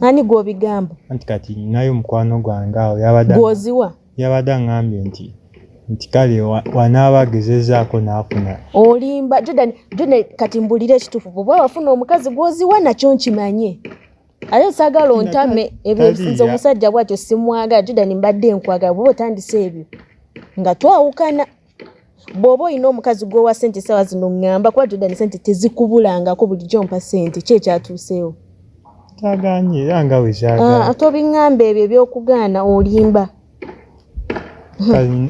ani gwobigamba anti kati naye omukwano gwange awo yabada gwoziwa yabada ngambye nti nti kale wanaaba agezezaako naafuna olimba jordan jordan kati mbulira ekituufu bwoba wafuna omukazi gwoziwa nakyo nkimanye ate nsagala ontame ebyosinza omusajja bwatyo simwagala jordan mbadde nkwagala bwoba otandise ebyo nga twawukana bw'oba olina omukazi gw'owa sente essaawa zino ŋŋamba kuba jordan sente tezikubulangako bulijjo mpa sente ki ekyatuuseewo kyaganye era nga bwe kyagala ah, tobiŋŋamba ebyo ebyokugaana olimba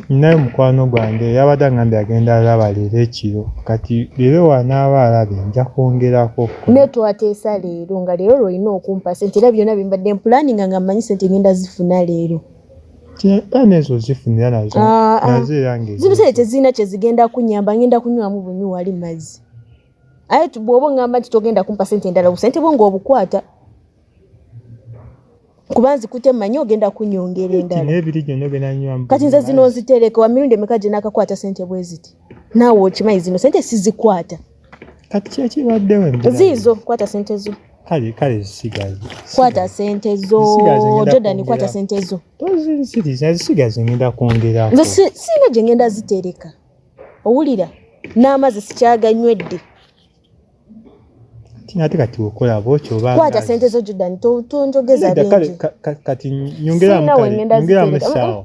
ninayo mukwano gwange yabadde aŋambye agenda alaba leero ekiro kati leero wanaaba alabe nja kwongerako naye twateesa leero nga leero lwolina okumpa sente era byonna bye mbadde mpulaninga nga mmanyi sente ngenda zifuna leero zibuse tezirina kyezigenda kunyamba ngenda kunywamu bunywi wali mazzi aye bwoba oŋamba nti togenda kumpa sente endala busente bwo ngaobukwata kuba nzikute manyi ogenda kunyongera endalakati nze zino nzitereke wamirundi emeka gyenakakwata sente bweziti naawe okimanyi zino sente sizikwata kati kyekibadde ziizo kwata sente zo kale kale zisigaze kwata sente zo jordan kwata sente zo tozinsiriza zisigaze ngenda kwongera nze singa gye ngenda zitereka owulira n'amazzi sikyaganywedde ate kati okola bwokyo kwata sente zo jordan tonjogeza bingi kati nyongeramu kale nyongeramu esaawa